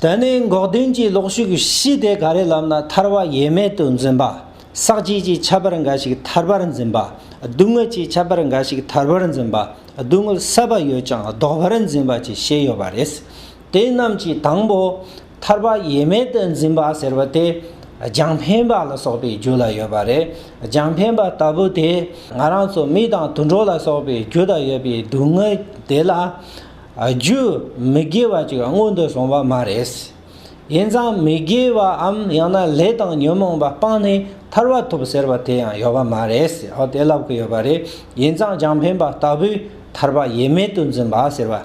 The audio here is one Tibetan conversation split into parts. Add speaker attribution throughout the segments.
Speaker 1: དེ་ནས་འགོག་བདེན་གྱི་ལོག་ཤུགས་བཞི་སྟེ་ག་རེ་ལབ་ན་ཐར་བ་ཡེ་མེད་དུ་འཛིན་པ། ཟག་བཅས་ཀྱི་ཁྱད་པར་འགའ་ཞིག་ཐར་བར་འཛིན་པ། སྡུག་བསྔལ་གྱི་ཁྱད་པར་འགའ་ཞིག་ཐར་བར་འཛིན་པ། སྡུག་བསྔལ་བསལ་བ་ཡོད་ཀྱང་ལྡོག་པར་འཛིན་པ་བཅས་བཞི་ཡོད་པ་རེད། དེ་རྣམས་ཀྱི་དང་པོ། ཐར་བ་ཡེ་མེད་དུ་འཛིན་པ་ཟེར་བ་དེ། རྒྱང་འཕེན་པ་ལ་སོགས་པའི་རྒྱུ་ལ་ཡོད་པ་རེད། རྒྱང་འཕེན་པ་ལྟ་བུ་དེ། ང་རང་ཚོ་མི་དང་དུད་འགྲོ་ལ་སོགས་པའི་རྒྱུ་དང་ཡོད་པའི་སྡུག་བསྔལ་དེ་ལ། རྒྱུ་མི་དགེ་བ་ཅིག་སྔོན་དུ་སོང་བ་མ་རེད། ཡིན་ཙང་མི་དགེ་བའམ་ཡང་ན་ལས་དང་ཉོན་མོངས་པ་སྤངས་ནས་ཐར་བ་ཐོབ་ཟེར་བ་དེ་ཡང་ཡོད་པ་མ་རེད། འོ་དེ་ལབ་གི་ཡོད་པ་རེད། ཡིན་ཙང་རྒྱང་འཕེན་པ་ལྟ་བུའི་ཐར་པ་ཡེ་མེད་དུ་འཛིན་པ་ཟེར་བ་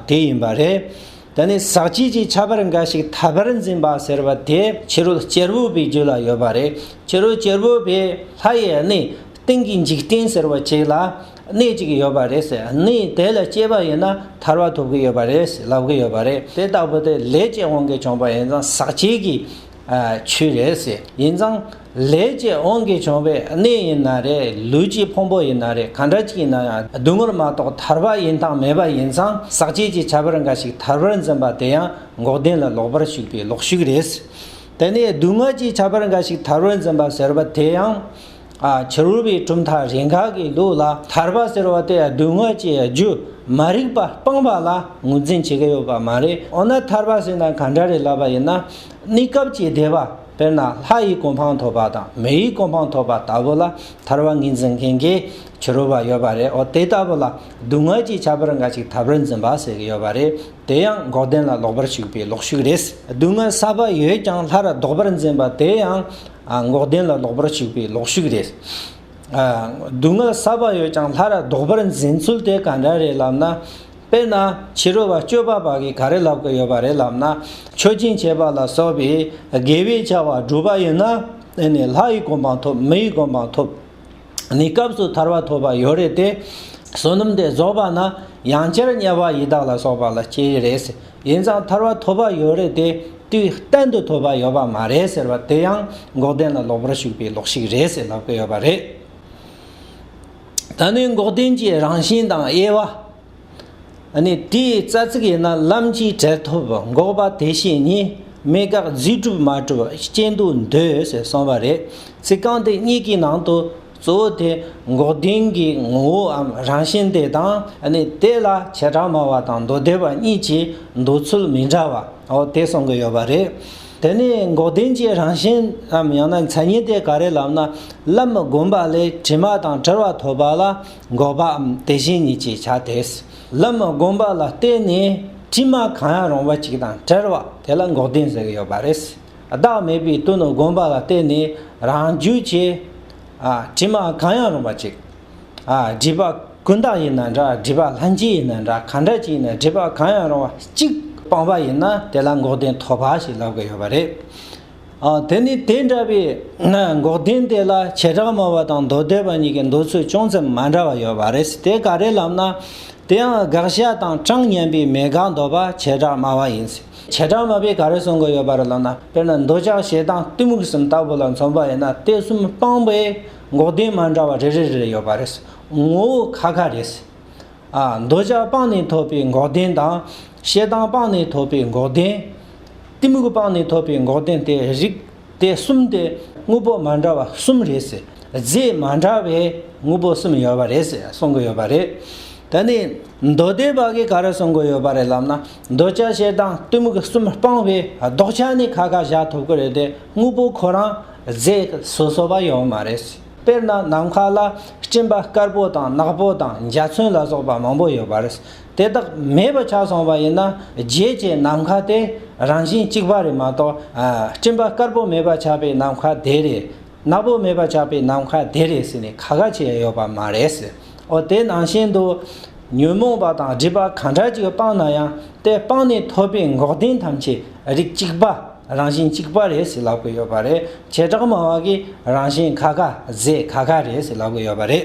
Speaker 1: དེ་ཡིན་པ་རེད། དེ་ནས་ཟག་བཅས་ཀྱི་ཁྱད་པར་འགའ་ཞིག་ཐར་པར་འཛིན་པ་ཟེར་བ་དེ་ཕྱི་རོལ་གཅེར་བུ་པའི་རྒྱུད་ལ་ཡོད་པ་རེད། ཕྱི་རོལ་གཅེར་བུ་པས་ལྷ་ཡི་གནས་སྟེང་གི་འཇིག་རྟེན་ཟེར་བ་ཅིག་ལ། གནས་གཅིག་ཡོད་པ་རེད་ཟེར་ནས་དེ་ལ་སྐྱེས་པ་ཡིན་ན་ཐར་བ་ཐོབ་གི་ཡོད་པ་རེད་ཟེར་ལབ་གི་ཡོད་པ་རེད་དེ་ལྟ་བུ་དེ་ལས་སྐྱེས་དབང་གིས་བྱུང་པ་ཡིན་ཙང་ཟག་བཅས་ཀྱི་ཆོས་རེད་ཟེར་ཡིན་ཙང་ལས་སྐྱེས་དབང་གིས་བྱུང་བའི་གནས་ཡིན་ན་རེད་ལུས་ཀྱི་ཕུང་པོ་ཡིན་ན་རེད་གང་འདྲ་ཅིག་ཡིན་ན་ཡང་བདུད་མོར་མ་གཏོགས་ཐར་བ་ཡིན་དང་མེད་པ་ཡིན་ཙང་ཟག་བཅས་ཀྱི་བྱ་བར་འགའ་ཞིག་ཐར་བར་འཛིན་པ་དེ་ཡང་འགོག་བདེན་ལ་ལོག་པར་ཞུགས་པའི་ལོག་ཞུགས་རེད་ཟེར་དེ་ནས་སྡུག་བསྔལ་གྱི་བྱ་བར་འགའ་ཞིག་ཐར་བར་འཛིན་པ་ཟེར་བ་དེ་ཡང་བྱ་རུལ་བའི་གྲུབ་མཐའ་རེ་འགའ་གི་ལུགས་ལ་ཐར་པ་ཟེར་བ་དེ་སྡུག་བསྔལ་གྱི་རྒྱུ་མ་རིག་པ་སྤངས་པ་ལ་ངོས་འཛིན་བྱེད་ཀྱི་ཡོད་པ་མ་རེད་འོ་ན་ཐར་པ་ཟེར་ན་གང་འདྲ་རེད་ལབ་པ་ཡིན་ན་གནས་སྐབས་ཀྱི་བདེ་བ་དཔེར་ན་ལྷ་ཡི་གོ་འཕང་ཐོབ་པ་དང་མི་ཡི་གོ་འཕང་ཐོབ་པ་ལྟ་བུ་ལ་ཐར་བ་ངེས་འཛིན་མཁན་གྱི་བྱ་རུལ་བ་ཡོད་པ་རེད་འོ་དེ་ལྟ་བུ་ལ་སྡུག་བསྔལ་གྱི་བྱ་བར་འགའ་ཞིག་ཐར་པར་འཛིན་པ་ཟེར་གྱི་ཡོད་པ་རེད་དེ་ཡང་འགོག་བདེན་ལ་ལོག་པར་ཞུགས་པའི་ལོག་ཞུགས་རེད། སྡུག་བསྔལ་བསགས་པ་ཡོད་ཀྱང་ལྷར་ལྡོག་པར་འཛིན་པ་དེ་ཡང་འགོག་བདེན་ལ་ལོག་པར་ཞུགས་པའི་ལོག་ཞུགས་རེད། སྡུག་བསྔལ་བསགས་པ་ཡོད་ཀྱང་ལྷ་ར་ལྡོག་པར་འཛིན་ཚུལ་དེ་ག་འདྲ་རེད་ལབ་ན། དཔེར་ན་ཕྱི་རོལ་བ་སྤྱོད་པ་པ་གིས་ག་རེ་ལབ་ཀྱི་ཡོད་པ་རེད་ལབ་ན། མཆོད་སྦྱིན་བྱེད་པ་ལ་སོགས་པའི་དགེ་བའི་བྱ་བ་བསྒྲུབས་པ་ཡིན་ན། དེ་ནི་ལྷ་ཡི་གོ་འཕང་ཐོབ་མི་ཡི་གོ་འཕང་ཐོབ། ནི་སྐབས་སུ་ཐར་བ་ཐོབ་པ་ཡོད་རེད་དེ། བསོད་ནམས་དེ་རྫོགས་པ་ན་ཡང་བསྐྱར་དམྱལ་བ་ཡི་དྭགས་ལ་སོགས་པ་ལ་སྐྱེ་ཡི་རེད། ཡིན་ཙང་ཐར་བ་ཐོབ་པ་ཡོད་རེད་དེ། དུས་གཏན་དུ་ཐོབ་པ་ཡོད་པ་མ་རེད་ཟེར་བ་དེ་ཡང་འགོག་བདེན་ལ་ལོག་པར་ཞུགས་པའི་ལོག་ཤིག་རེད་ཟེར་ལབ་ཀི་ཡོད་པ་རེད། ད་ནི་འགོག་བདེན་གྱི་རང་བཞིན་དང་དབྱེ་བ། ནི་དེའི་རྩ་ཚིག་ཡིན་ན་ལམ་གྱིས་བྲལ་ཐོབ་འགོག་པ་དེ་བཞིན་ཉིད་མེད་དགག་རྫས་གྲུབ་མ་གྲུབ་རྐྱེན་དུ་འདོད་ཟེར་གསུངས་པ་རེད། ཚིག་རྐང་དེ་གཉིས་ཀྱི་ནང་དུ་གཙོ་བོ་དེ་འགོག་བདེན་གྱི་ངོ་བོའམ་རང་བཞིན་དེ་དང་ནི་དེ་ལ་བྱེ་བྲག་སྨྲ་བ་དང་མདོ་སྡེ་བ་གཉིས་ཀྱི་འདོད་ཚུལ་མི་འདྲ་བ་འོ་དེ་གསུང་གི་ཡོད་པ་རེད། དེ་ནས་འགོག་བདེན་གྱི་རང་བཞིན་ནམ་ཡང་ན་མཚན་ཉིད་དེ་ག་རེ་ལབ་ན་ལམ་བསྒོམ་པ་ལས་དྲི་མ་དང་བྲལ་བ་ཐོབ་པ་ལ། འགོག་པའམ་དེ་བཞིན་ཉིད་ཅེས་བྱ་དེས་ལམ་བསྒོམ་པ་ལ་བརྟེན་ནས་དྲི་མ་གང་ཡང་རུང་བ་ཅིག་དང་བྲལ་བ་དེ་ལ་འགོག་བདེན་ཟེར་གྱི་ཡོད་པ་རེད། བདག་མེད་པའི་དོན་དུ་བསྒོམ་པ་ལ་བརྟེན་ནས་རང་རྒྱུད་ཀྱི། དྲི་མ་གང་ཡང་རུང་བ་ཅིག། སྒྲིབ་པ་ཀུན་བཏགས་ཡིན་ན་འདྲ་སྒྲིབ་པ་ལྷན་སྐྱེས་ཡིན་ན་འདྲ་གང་འདྲ་ཅིག་ཡིན་ན་སྒྲིབ་པ་གང་ཡང་རུང་བ་གཅིག་སྤངས་པ་ཡིན་ན་དེ་ལ་འགོག་བདེན་ཐོབ་པ་ཞེས་ལབ་ཀྱི་ཡོད་པ་རེད། དེ་ནི་དེ་འདྲ་བའི་འགོག་བདེན་དེ་ལ་བྱེ་བྲག་མ་བ་དང་མདོ་སྡེ་པ་གཉིས་ཀྱི་འདོད་ཚུལ་ཅུང་ཙམ་མ་འདྲ་བ་ཡོད་པ་རེད་དེ་ག་རེ་ལབ་ན། དེ་ཡང་དགག་བྱ་དང་གྲངས་མཉམ་པའི་མེད་དགག་འདོད་པ་བྱེ་བྲག་མ་བ་ཡིན། བྱེ་བྲག་མ་བས་ག་རེ་གསུང་གི་ཡོད་པ་རེད་ལབ་ན་དཔེར་ན་འདོད་ཆགས་ཞེ་སྡང་གཏི་མུག་གསུམ་ལྟ་བུ་ལ་མཚོན་པ་ཡིན་ན་དེ་གསུམ་སྤངས་པའི་འགོག་བདེན་མ་འདྲ་བ་རེ་རེ་རེ་རེ་ཡོད་པ་རེད། ངོ་བོ་ཁ་ཁ་རེད། འདོད་ཆགས་སྤངས་ནས་ཐོབ་པའི་འགོག་བདེན་དང། ཤེས་སྡང་སྤངས་ནས་ཐོབ་པའི་འགོག་བདེན། གཏི་མུག་སྤངས་ནས་ཐོབ་པའི་འགོག་བདེན་ཏེ་རིགས་དེ་གསུམ་སྟེ་དངོས་པོ་མ་འདྲ་བ་གསུམ་རེད། རྫས་མ་འདྲ་བའི་དངོས་པོ་གསུམ་ཡོད་པ་རེད་ཟེར་གསུང་གི་ཡོད་པ་རེད། ད་ནི་མདོ་སྡེ་པ་གིས་ག་རེ་གསུང་གི་ཡོད་པ་རེད་ལབ་ན་འདོད་ཆགས་ཤེས་སྡང་གཏི་མུག་གསུམ་སྤངས་པའི་ལྡོག་ཆ་ནི་ཁ་ཁ་བཞག་ཐུབ་ཀི་རེད་དེ་དངོས་པོ་ཁོ་རང་རྫས་སོ་སོ་བ་ཡོད་མ་རེད། དཔེར་ན་ནམ་མཁའ་ལ་སྤྲིན་པ་དཀར་པོ་དང་ནག་པོ་དང་འཇའ་ཚོན་ལ་སོགས་པ་མང་པོ་ཡོད་པ་རེད། དེ་དག་མེད་པ་ཆགས་སོང་བ་ཡིན་ན་རྗེས་ཀྱི་ནམ་མཁའ་དེ་རང་བཞིན་གཅིག་པ་རེད་མ་གཏོགས་སྤྲིན་པ་དཀར་པོ་མེད་པ་ཆགས་པའི་ནམ་མཁའ་དེ་རེད། ནག་པོ་མེད་པ་ཆགས་པའི་ནམ་མཁའ་དེ་རེད་ཟེར་ནས་ག་ག་བྱེད་ཡོད་པ་མ་རེད། འོ་དེ་ནང་བཞིན་དུ། ཉོན་མོངས་པ་དང་སྒྲིབ་པ་གང་འདྲ་ཅིག་སྤངས་ན་ཡང་དེ་སྤངས་ནས་ཐོབ་པའི་འགོག་བདེན་ཐམས་ཅད་རིགས་གཅིག་པ། རང་བཞིན་གཅིག་པ་རེད་ཟེར་ལབ་གི་ཡོད་པ་རེད། བྱེ་བྲག་མང་བ་གིས་རང་བཞིན་ཁ་ཁ། རྫས་ཁ་ཁ་རེད་ཟེར་ལབ་གི་ཡོད་པ་རེད།